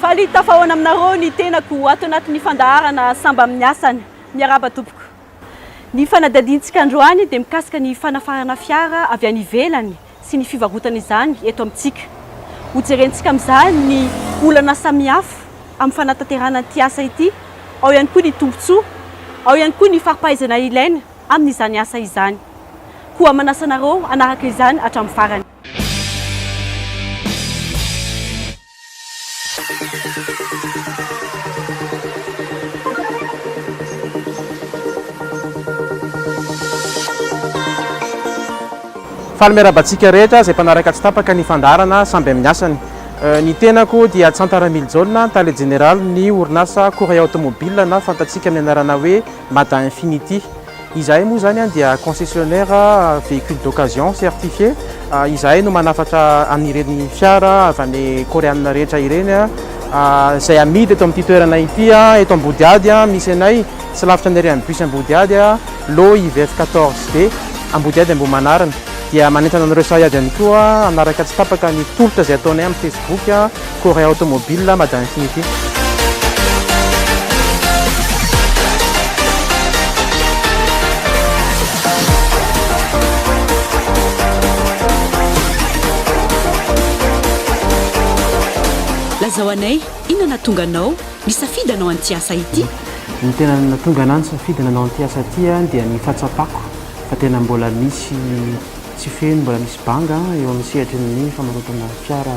Faly tafahaona aminareo ny tenako ato anatin'ny fandaharana Samba amin'ny asany. Miarahaba tompoko. Ny fanadihadiantsika androany dia mikasika ny fanafarana fiara avy any ivelany sy ny fivarotana izany eto amintsika. Hojerentsika amin'izany ny olana samihafa amin'ny fanatanterahana ity asa ity, ao ihany koa ny tombontsoa, ao ihany koa ny fari-pahaizana ilaina amin'izany asa izany. Koa manasa anareo hanaraka izany hatramin'ny farany. Faly miarahaba antsika rehetra izay mpanaraka tsy tapaka ny fandaharana samby amin'ny asany. Ny tenako dia Tsanta Ramilijona, tale jeneralin'ny orinasa Courrier Automobile na fantatsika amin'ny anarana hoe Mada Infinity. Izahay moa izany dia concessionnaire véhicule d'occasion certifié, izahay no manafatra an'ireny fiara avy any Koreana rehetra ireny izay amidy eto amin'ity toerana ity, eto Ambodihady misy anay, tsy lavitra ny arrêt an'ny bus Ambodihady, lot IVF 14 D, Ambodihady Ambohimanarina. Dia manentana anareo sahady ihany koa hanaraka tsy tapaka ny tolotra izay ataonay amin'ny Facebook. Corée Automobile, Mada Infinity. Lazao anay, inona nahatonga anao nisafidy hanao an'ity asa ity? Ny tena nahatonga anah nisafidy nanao an'ity asa ity dia ny fahatsapako fa tena mbola misy tsy feno, mbola misy banga eo amin'ny sehatry ny famarotana fiara.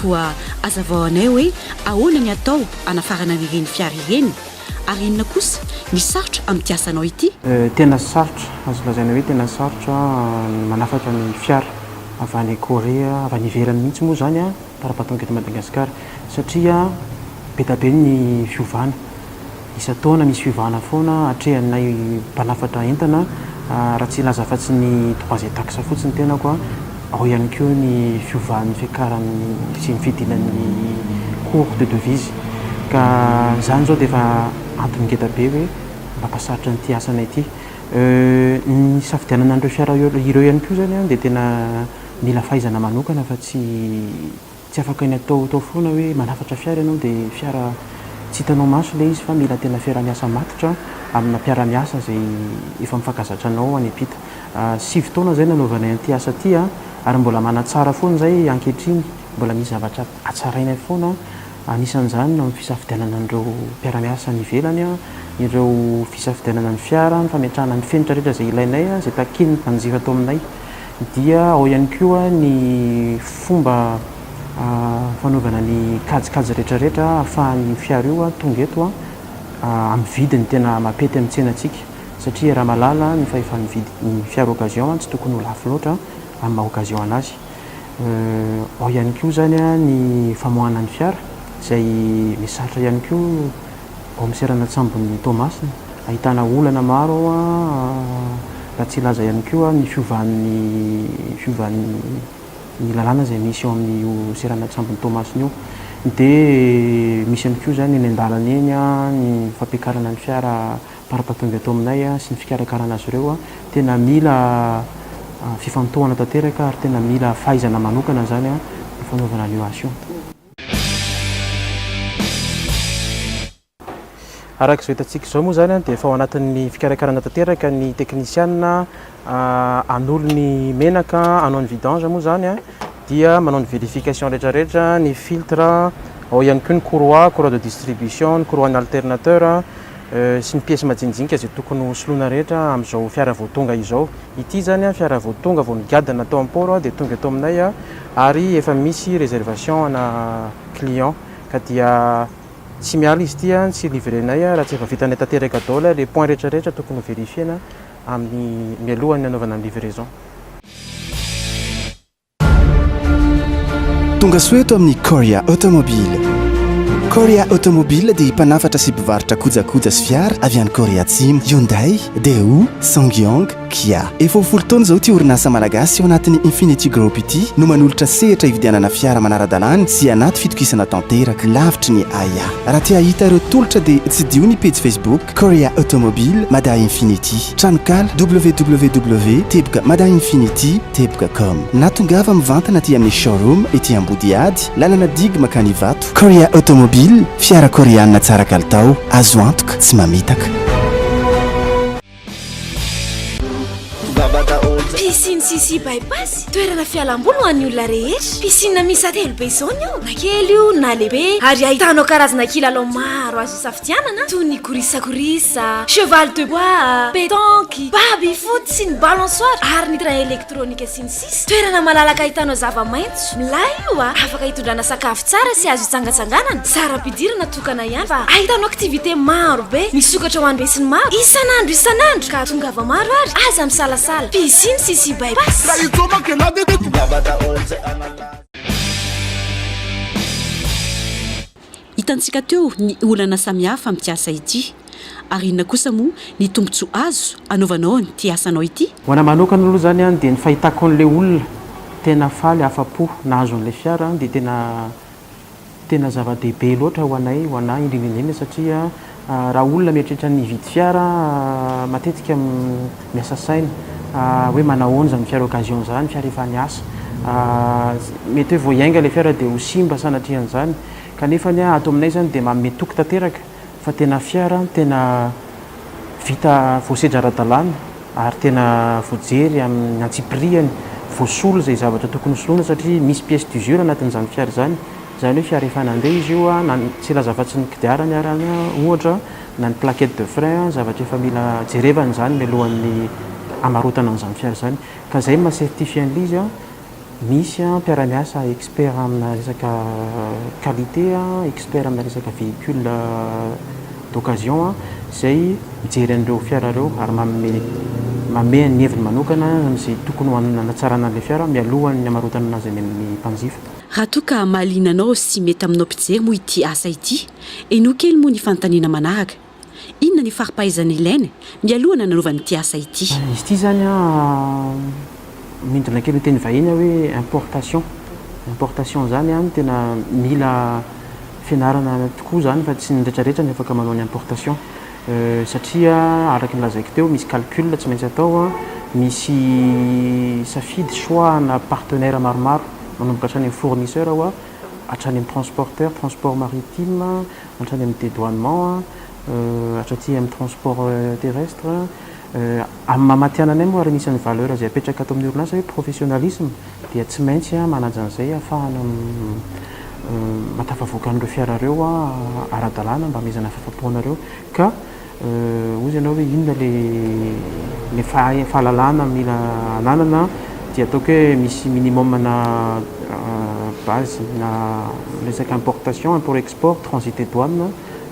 Koa azavao anay hoe ahoana ny atao hanafarana an'ireny fiara ireny? Ary inona kosa ny sarotra amin'ity asanao ity? Tena sarotra, azo lazaina hoe tena sarotra ny manafatra ny fiara avy any Korea, avy any ivelany mihitsy moa izany an, par rapport aty Madagasikara satria be dia be ny fiovana. Isan-taona misy fiovana foana atrehanay mpanafatra entana raha tsy hilaza afa-tsy ny trois et taxe fotsiny tenako ao ihany koa ny fiovan'ny fiakaran'ny sy ny fidinan'ny cours de devise ka izany izao dia efa antony ngeda be hoe mampasarotra an'ity asanay ity ny hisafidianana an'ireo fiara ireo ihany koa izany dia tena mila fahaizana manokana fa tsy Tsy afaka ny atao atao foana hoe manafatra fiara ianao dia fiara tsy hitanao maso ilay izy fa mila tena fiaraha-miasa matotra amina mpiara-miasa izay efa mifankazatra anao any am-pita. Sivy taona izay nanaovanay an'ity asa ity ary mbola manatsara foana izay ankehitriny. Mbola misy zavatra hatsarainay foana anisan'izany ny fisafidianana an'ireo mpiara-miasa any ivelany, ireo fisafidianana ny fiara, ny fametrahana ny fenitra rehetra izay ilainay, izay takian'ny mpanjifa ato aminay. Dia ao ihany koa ny fomba fanaovana ny kajikajy rehetrarehetra ahafahan'io fiara io tonga eto amin'ny vidiny tena mapety amin'ny tsenantsika. Satria raha mahalala ny fahefa-mividy ny fiara occasion, tsy tokony ho lafo loatra amin'ny maha occasion an'azy. Ao ihany koa izany ny famoahana ny fiara izay misarotra ihany koa. Ao amin'ny seranan-tsambon'i Toamasina, ahitana olana maro ao raha tsy hilaza ihany koa ny fiovan'ny fiovan'ny lalàna izay misy ao amin'io seranan-tsambon'i Toamasina io. Dia misy ihany koa izany eny an-dalana eny ny fampiakarana ny fiara par patunga eto aminay sy ny fikarakarana azy ireo. Tena mila fifantohana tanteraka ary tena mila fahaizana manokana izany ny fanaovana an'io asa io. Araka izao hitantsika izao moa izany dia efa ao anatin'ny fikarakarana tanteraka ny teknisianina hanolo ny menaka, hanao ny vidange moa izany dia manao ny vérification rehetrarehetra, ny filtre, ao ihany koa ny courroie, courroie de distribution, ny courroie-n'ny alternateur sy ny pièces majinijinika izay tokony ho soloina rehetra amin'izao fiara vao tonga izao. Ity izany an, fiara vao tonga vao nigadona tao am port an, dia tonga eto aminay an, ary efa misy reservation ana client, ka dia tsy miala izy ity an, tsy livrenay an, raha tsy efa vitanay tanteraka daoly le point rehetra rehetra tokony ho verifiena amin'ny mialohan'ny anaovana ny livraison. Tonga soa eto amin'ny Korea Automobile. Korea Automobile dia mpanafatra sy mpivarotra kojakoja sy fiara avy any Korea Atsimo, Hyundai, Daewoo, Ssangyong, Kia. Efa ho folo taona izao ity orinasa malagasy ao anatin'ny Infinity Group ity no manolotra sehatra hividianana fiara manara-dalàna sy anaty fitokisana tanteraka, lavitry ny ahiahy. Raha te hahita ireo tolotra dia tsidiho ny pejy Facebook. Korea Automobile, Mada Infinity. Tranonkala, www teboka mada infinity teboka com. Na tongava mivantana aty amin'ny showroom ety Ambodihady, lalana digue makany Ivato. Korea Automobile, fiara koreana tsara kalitao, azo antoka, tsy mamitaka. Piscine Sisi Bypass, toerana fialamboly ho an'ny olona rehetra. Piscine miisa telo be zone io, na kely io na lehibe, ary ahitanao karazana kilalao maro azo isafidianana. Dianana toy ny korisakorisa, cheval de bois, pétanque, baby foot sy ny balançoire ary ny train électronique sy ny sisa Toerana malalaka ahitanao zava-maitso, milay io a! Afaka hitondrana sakafo tsara sy azo hitsangatsanganana, tsara ampidirina tokana ihany fa ahitanao activités maro be misokatra ho an'ny besinimaro isan'andro isan'andro ka tongava maro ary aza misalasala, piscine sy sy bypass. Hitantsika teo ny olana samihafa amin'ity asa ity. Ary inona kosa moa ny tombontsoa azo anaovanao an'ity asanao ity? Ho an'ahy manokana aloha izany dia ny fahitako an'ilay olona tena faly, afa-po nahazo an'ilay fiara dia tena tena zava-dehibe loatra ho anay, ho an'ahy indrindra indrindra satria Raha olona mieritreritra ny hividy fiara, matetika miasa saina hoe manahoana izany fiara occasion izany, fiara efa niasa. Mety hoe vao hiainga ilay fiara dia ho simba sanatrian'izany. Kanefa ny ahy, ato aminay izany dia manome toky tanteraka fa tena fiara tena vita voasedra ara-dalàna ary tena voajery amin'ny antsipiriany, voasolo izay zavatra tokony ho soloina satria misy pièces d'usure anatin'izany fiara izany. Izany hoe fiara efa nandeha izy io, na ny tsy hilaza afa-tsy ny kodiarany ary an, ohatra, na ny plaquette de frein, zavatra efa mila jerevana izany mialohan'ny hamarotana an'izany fiara izany. Ka izay no maha-certifié an'ilay izy, misy mpiara-miasa expert amina resaka qualité, expert amina resaka véhicule d'occasion izay mijery an'ireo fiara ireo ary manome manome ny heviny manokana amin'izay tokony ho hanatsarana an'ilay fiara mialohan'ny hamarotana azy any amin'ny mpanjifa. Raha toa ka mahaliana anao sy mety aminao mpijery moa ity asa ity, henoy kely moa ny fanontaniana manaraka, Inona ny fari-pahaizana ilaina mialoha nananaovana ity asa ity? Izy ity izany an, midina kely ho teny vahiny aho hoe importation. Importation izany an, tena mila fianarana tokoa izany fa tsy ny retraretra no afaka manao ny importation. Satria araka ny lazaiko teo misy calcul tsy maintsy atao, misy safidy, choix, ana partenaire maromaro manomboka hatrany amin'ny fournisseur ho'a hatrany amin'ny transporteur, transport maritime, hatrany amin'ny dedoinement, hatraty amin'ny transport terrestre, amin'ny maha matihananay moa ary anisan'ny valeur izay apetraka ato amin'ny orinasa hoe professionnalisme, dia tsy maintsy manaja an'izay hahafahana mahatafavoaka an'ireo fiara ireo ara-dalàna mba hamehezana ny fahafapoanareo ka hoy izy ianao hoe inona ilay fahalalana mila ananana dia ataoko hoe misy minimum na base na resaka importation, import export, transit et douane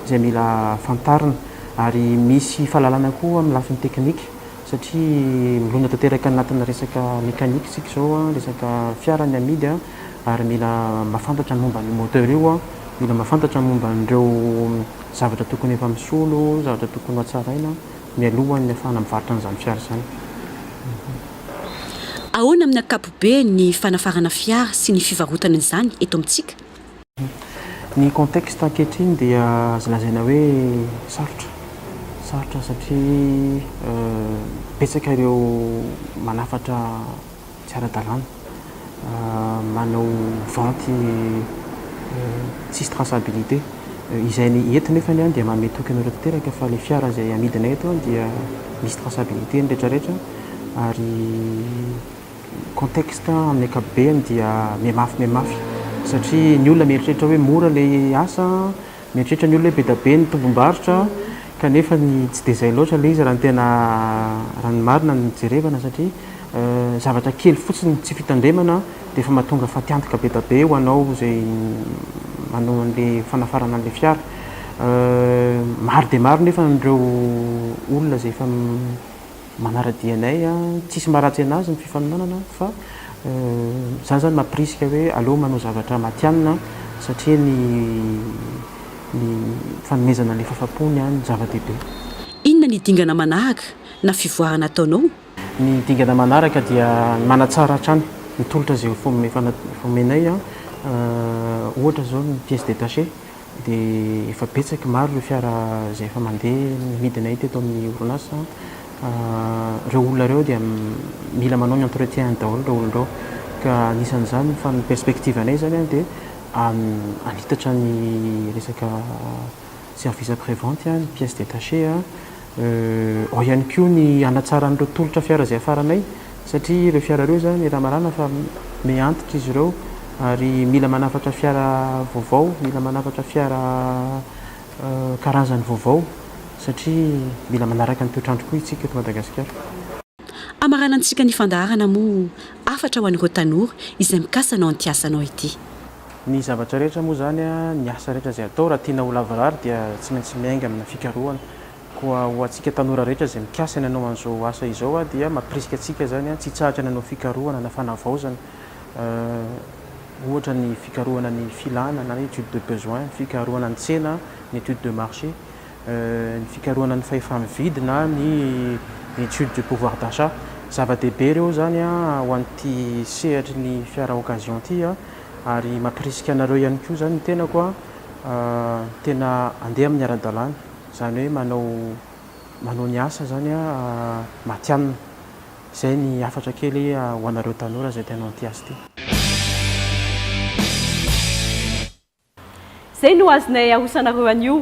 izay mila fantarina ary misy fahalalana koa amin'ny lafiny teknika. satria milona tanteraka anatina resaka mécanique isika izao an, resaka fiara ny amidy an, ary mila mahafantatra ny momba an'io moteur io an, mila mahafantatra ny momba an'ireo zavatra tokony efa misolo, zavatra tokony ho hatsaraina mialohan'ny hahafahana mivarotra an'izany fiara izany. Ahoana amin'ny ankapobeny ny fanafarana fiara sy ny fivarotana izany eto amintsika? Ny contexte ankehitriny dia azo lazaina hoe sarotra, sarotra satria betsaka ireo manafatra tsy ara-dalàna, manao vente tsisy traçabilité. Izay ny eto nefa dia manome toky anareo tanteraka fa ilay fiara izay amidinay eto dia misy traçabilité ny rehetra rehetra ary Ny contexte amin'ny ankapobeny dia mihamafy mihamafy satria ny olona mieritreritra hoe mora ilay asa, mieritreritra ny olona hoe be dia be ny tombom-barotra kanefa ny tsy dia izay loatra ilay izy raha ny tena, raha ny marina no jerevana satria zavatra kely fotsiny tsy fitandremana dia efa mahatonga fatiantoka be dia be ho anao izay manao an'ilay fanafarana an'ilay fiara. Maro dia maro nefa ireo olona izay efa. Manaradia anay a. Tsisy maharatsy anazy ny fifaninanana fa za zany mampirisika hoe aleo manao zavatra matianina satria ny ny fanomezana ny fahafaham-pony a no zava-dehibe. Inona ny dingana manahaka na fivoarana ataonao? Ny dingana manaraka dia ny manatsara hatrany ny tolotra izay efa omenay a. Ohatra zao ny pièce détachée. dia efa betsak maro ireo fiara izay efa mandeha midinay teto amin'ny orinasa ireo olona ireo dia mila manao ny entretien daholo ireo olona ireo ka anisan'izany fa ny perspective anay izany an dia hanitatra ny resaka service après vente ny pièces détachées Ao ihany koa ny hanatsarana ireo tolotra fiara izay hafaranay satria ireo fiara ireo izany raha marana fa me antitra izy ireo ary mila manafatra fiara vaovao, mila manafatra fiara karazany vaovao satria mila manaraka ny toetr'andro koa isika eto Madagasikara. Hamaranantsika ny fandaharana moa hafatra ho an'ireo tanora izay mikasa hanao an'ity asanao ity. Ny zavatra rehetra moa izany, ny asa rehetra izay atao, raha tiana ho lavorary dia tsy maintsy miainga amina fikarohana. Koa ho antsika tanora rehetra izay mikasa ny hanao an'izao asa izao dia mampirisika antsika izany tsy hitsahatra ny hanao fikarohana na fanavaozana, ohatra ny fikarohana ny filana na ny étude de besoin, fikarohana ny tsena, ny étude de marché. ny fikarohana ny fahefa-mividy na ny étude du pouvoir d'achat. Zava-dehibe ireo izany ho an'ity sehatry ny fiara occasion ity ary mampirisika anareo ihany koa izany ny tenako tena handeha amin'ny ara-dalàna, izany hoe manao manao ny asa izany matihanina. Izay ny hafatra kely ho anareo tanora izay tena hanao ity asa ity. Izay no azonay arosanareo anio.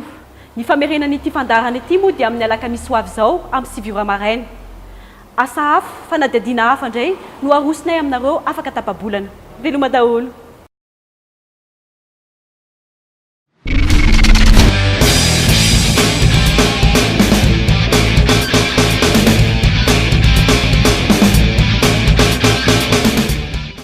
Ny famerenan'ity fandaharana ity moa dia amin'ny alakamisy ho avy izao amin'ny sivy ora maraina. Asa hafa, fanadihadiana hafa indray no harosonay aminareo afaka tapa-bolana. Veloma daholo.